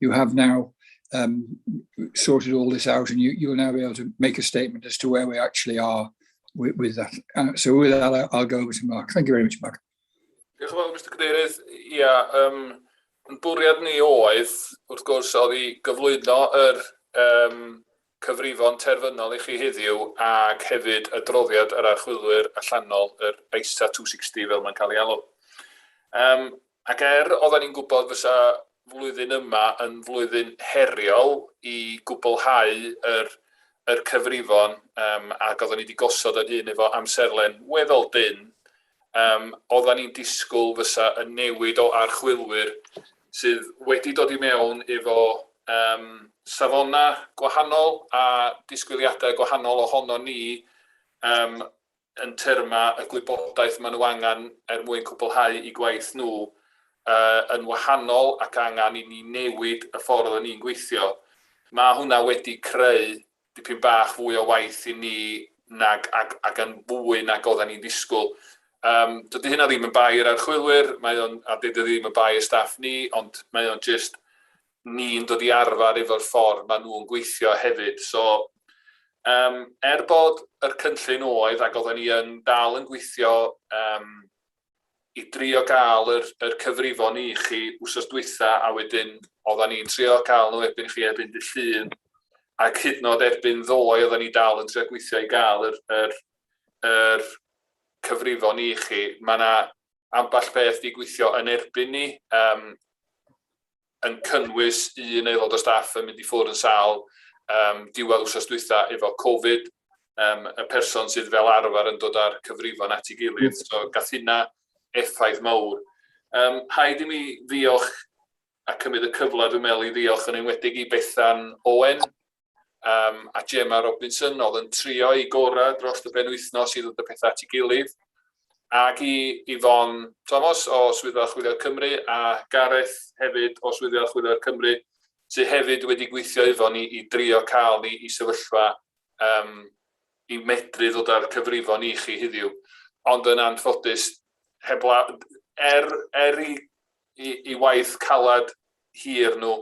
you have now um, sorted all this out and you, you'll now be able to make a statement as to where we actually are with, with that. Uh, so with that, I'll, I'll go over to Mark. Thank you very much, Mark. Diolch yn fawr, Mr Cadeirydd. Ia, um, yn bwriad ni oedd, wrth gwrs, oedd i gyflwyno yr um, cyfrifon terfynol i chi heddiw ac hefyd adroddiad yr archwilwyr allanol, yr ISA 260 fel mae'n cael ei alw. Um, ac er oedden ni'n gwybod fysa flwyddyn yma yn flwyddyn heriol i gwblhau yr, yr cyfrifon um, ac oedden ni wedi gosod ar hyn efo amserlen weddol dyn, Yym, oeddan ni'n disgwyl fysa y newid o archwilwyr sydd wedi dod i mewn efo um, safona gwahanol a disgwyliadau gwahanol ohono ni um, yn terma y gwybodaeth maen nhw angen er mwyn cwblhau i gwaith nhw uh, yn wahanol ac angen i ni newid y ffordd o'n ni'n gweithio. Mae hwnna wedi creu dipyn bach fwy o waith i ni nag ag ag yn fwy nag oddan ni'n disgwl. Yym dydy hynna ddim yn bai yr archwilwyr mae o'n a dydy o ddim yn bai y staff ni ond mae o'n jyst ni'n dod i arfer efo'r ffordd ma' nhw'n gweithio hefyd so yym er bod yr cynllun oedd ag oddan ni yn dal yn gweithio yym i drio gael yr yr cyfrifon i chi wsos dwytha a wedyn oddan ni'n trio cael nhw erbyn chi erbyn dy llun ac hyd nod erbyn ddoe oddan ni dal yn trio gweithio i gael yr yr yr cyfrifon i chi mae yna ambell beth di gweithio yn erbyn ni um, yn cynnwys un aelod o staff yn mynd i ffwrdd yn sâl um, diwedd wrsos dwytha efo Covid, um, y person sydd fel arfer yn dod â'r cyfrifon at ei gilydd, mm. so gath hynna effaith mawr. Um, haid i mi ddiolch a cymryd y cyfle dwi'n meddwl i ddiolch yn enwedig i Bethan Owen, um, a Gemma Robinson oedd yn trio i gorau dros y penwythnos i ddod y pethau at ei gilydd. Ac i Yvonne Thomas o Swyddfa Chwilio'r Cymru a Gareth hefyd o Swyddfa Chwilio'r Cymru sydd hefyd wedi gweithio efo ni i drio cael ni i sefyllfa um, i medru ddod â'r cyfrifon i chi heddiw. Ond yn anffodus, hebla, er, er i, i, i waith calad hir nhw,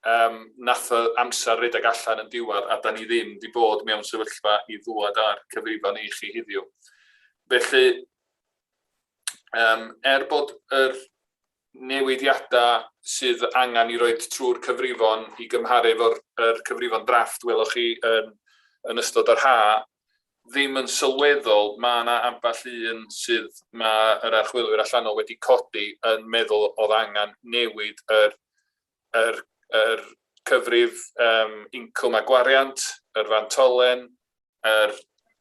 Yym, nath y amser redeg allan yn diwadd a 'dan ni ddim 'di bod mewn sefyllfa i ddwad â'r cyfrifon i chi hiddiw. Felly, yym, er bod yr newidiada sydd angan i roed trwy'r cyfrifon i gymharu efo'r er cyfrifon drafft weloch chi yn, yn ystod yr ha, ddim yn sylweddol, mae yna ambell un sydd mae yr archwilwyr allanol wedi codi yn meddwl oedd angan newid yr yr yr cyfrif yym incwm a gwariant, yr fantolen, yr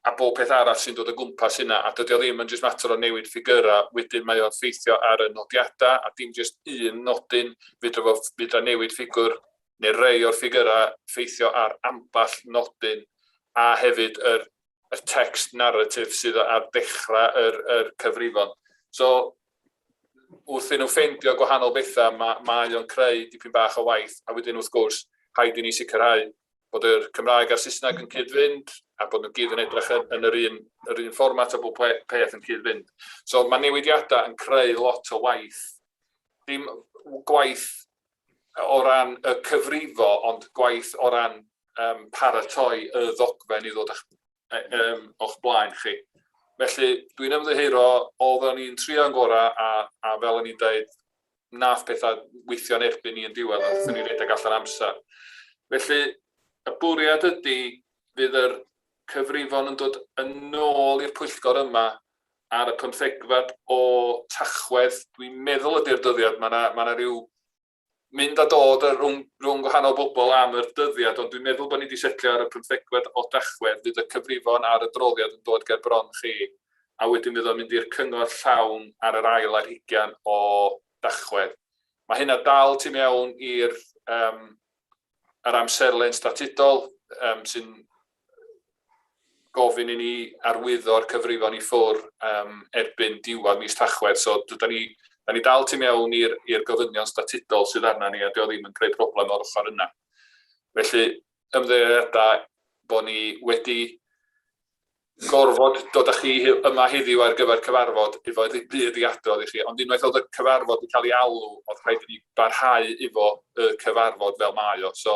a bob peth arall sy'n dod o gwmpas hynna, a dydy o ddim yn jyst mater o newid ffigyrau, wedyn mae o'n ffeithio ar y nodiadau, a dim jyst un nodyn, fydra fo, fydra newid ffigwr, neu rei o'r ffigyrau ffeithio ar ambell nodyn, a hefyd yr, yr text narrative sydd ar ddechrau yr, yr cyfrifon. So, wrth i nhw ffeindio gwahanol bethau, ma, mae o'n creu dipyn bach o waith, a wedyn wrth gwrs, rhaid i ni sicrhau bod yr Cymraeg a'r Saesneg yn cyd-fynd, a bod nhw gyd yn edrych yn, yn yr, un, yr un fformat a bod peth yn cyd-fynd. So mae newidiadau yn creu lot o waith, dim gwaith o ran y cyfrifo, ond gwaith o ran um, paratoi y ddogfen i ddod â'ch um, o'ch blaen chi. Felly, dwi'n ymddeheuro, oedden ni'n trio'n gorau, a, a fel o'n i'n dweud, nath pethau weithio'n erbyn ni yn diwedd, a wnaethon ni redeg allan amser. Felly, y bwriad ydy, fydd yr cyfrifon yn dod yn ôl i'r pwyllgor yma ar y pymthegfed o Tachwedd, dwi'n meddwl ydy'r dyddiad, mae yna ma rhyw mynd a dod rhwng, rhwng gwahanol bobl am yr dyddiad, ond dwi'n meddwl bod ni wedi setlio ar y pymthegfed o Dachwedd, fydd y cyfrifon ar y droliad yn dod ger bron chi, a wedyn fydd o'n mynd i'r cyngor llawn ar yr ail ar hugian o Dachwedd. Mae hynna dal tu mewn i'r um, yr amserlen statudol um, sy'n gofyn i ni arwyddo'r cyfrifon i ffwr um, erbyn diwedd mis Tachwedd. So, da ni, da ni dal tu mewn i'r gofynion statudol sydd arna ni a dio ddim yn creu problem o'r ochr yna. Felly, ymddeiriadau bod ni wedi gorfod dod â chi yma heddiw ar gyfer cyfarfod efo ddim byd i adrodd i chi, ond unwaith oedd y cyfarfod wedi cael ei alw, oedd rhaid i ni barhau efo y cyfarfod fel mae o. So,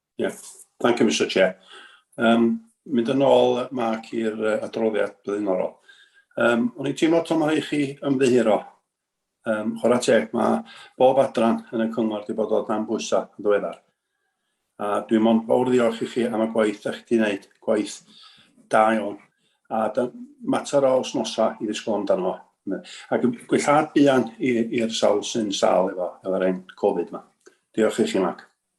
Yeah, thank you, Mr Chair. Um, mynd yn ôl, Mark, i'r uh, adroddiad blaenorol. Um, o'n i'n teimlo to mae chi ymddiheuro. Um, chwarae teg, mae bob adran yn y cyngor wedi bod o dan bwysa yn ddiweddar. A dwi'n mond fawr ddiolch i chi am y gwaith da chi wedi gwneud, gwaith da iawn. A da, mater o osnosa i ddisgwyl amdano. Ac gwellhad buan i'r sawl sy'n sal efo, efo'r ein Covid yma. Diolch i chi, Mark.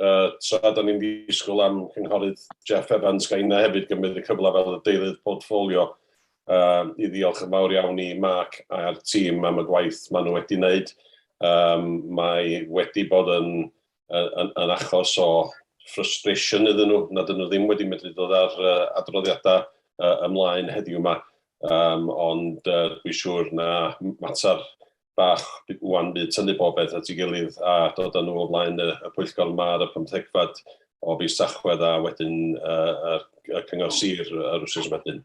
uh, tra da ni'n ddisgwyl am cynghorydd Jeff Evans, gael yna hefyd gymryd y cyfle fel y deirydd portfolio uh, i ddiolch yn fawr iawn i Mark a'r tîm am y gwaith maen nhw wedi wneud. Um, mae wedi bod yn, yn, yn achos o frustration iddyn nhw, nad ydyn nhw ddim wedi medru dod ar uh, adroddiadau uh, ymlaen heddiw yma, um, ond uh, dwi'n siŵr na mater bach ŵan bydd tynnu bobeth at ei gilydd a dod â nhw o flaen y, y pwyllgor yma ar y pymthegfad o fis Tachwedd a wedyn uh, y, y cyngor sir yr wrsos wedyn.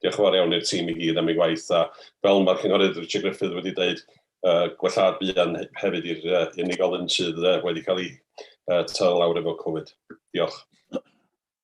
Diolch yn fawr iawn i'r tîm i gyd am ei waith a fel mae'r cynghorydd Richard Griffith wedi dweud, uh, gwellad buan hefyd i'r uh, unigolyn sydd uh, wedi cael ei uh, taro lawr efo Covid. Diolch.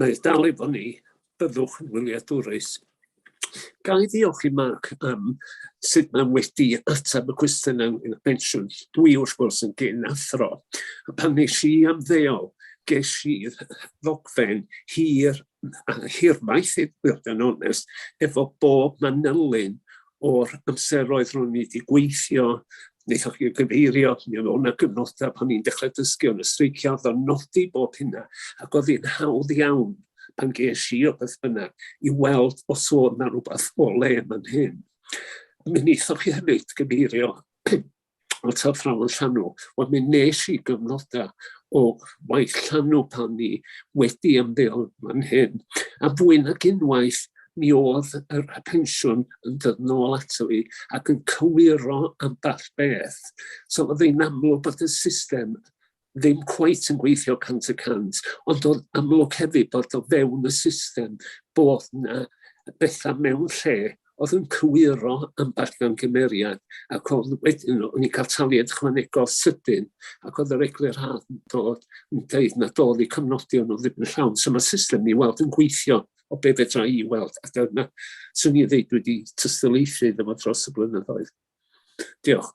Mae e'n dal efo ni, byddwch yn wyliadwrus. Ga i ddiolch i Mark am sut mae wedi ateb y cwestiwn ynglyn â pensiwn. Dwi wrth gwrs yn gyn athro. A pan nes i am ddeol, ges i ddogfen hir a hirfaith i fod yn onest, efo bob manylyn o'r amseroedd ro'n i wedi gweithio, wnaethoch chi gyfeirio, mi oedd o'na gyfnodau pan ni'n dechrau dysgu o'n y streicio, oedd o'n nodi bob hynna, ac oedd hi'n hawdd iawn pan ges i o beth bynnag i weld os oedd na rhywbeth o le yn fan hyn. Mi wnaethoch chi hefyd gyfeirio o ta ffrawn llanw. Wel, mi nes i gyfnodau o waith llanw pan ni wedi ymddeol fan hyn. A fwy nag unwaith, mi oedd yr pensiwn yn dod nôl ato fi ac yn cywiro ambell beth. So oedd hi'n amlwg bod y system ddim cweit yn gweithio cant y cant, ond o'n amlwg hefyd bod o fewn y system bod yna bethau mewn lle oedd yn cywiro ambell mewn gymeriad, ac o'n wedyn o'n i'n cael taliad ychwanegol sydyn, ac oedd yr eglur haf yn dod yn dweud na dod i cyfnodi o'n ddim yn llawn. So mae system ni weld yn gweithio o be fedra i weld, a dyna swn i'n dweud wedi tystyleithu iddo fo dros y blynyddoedd. Diolch.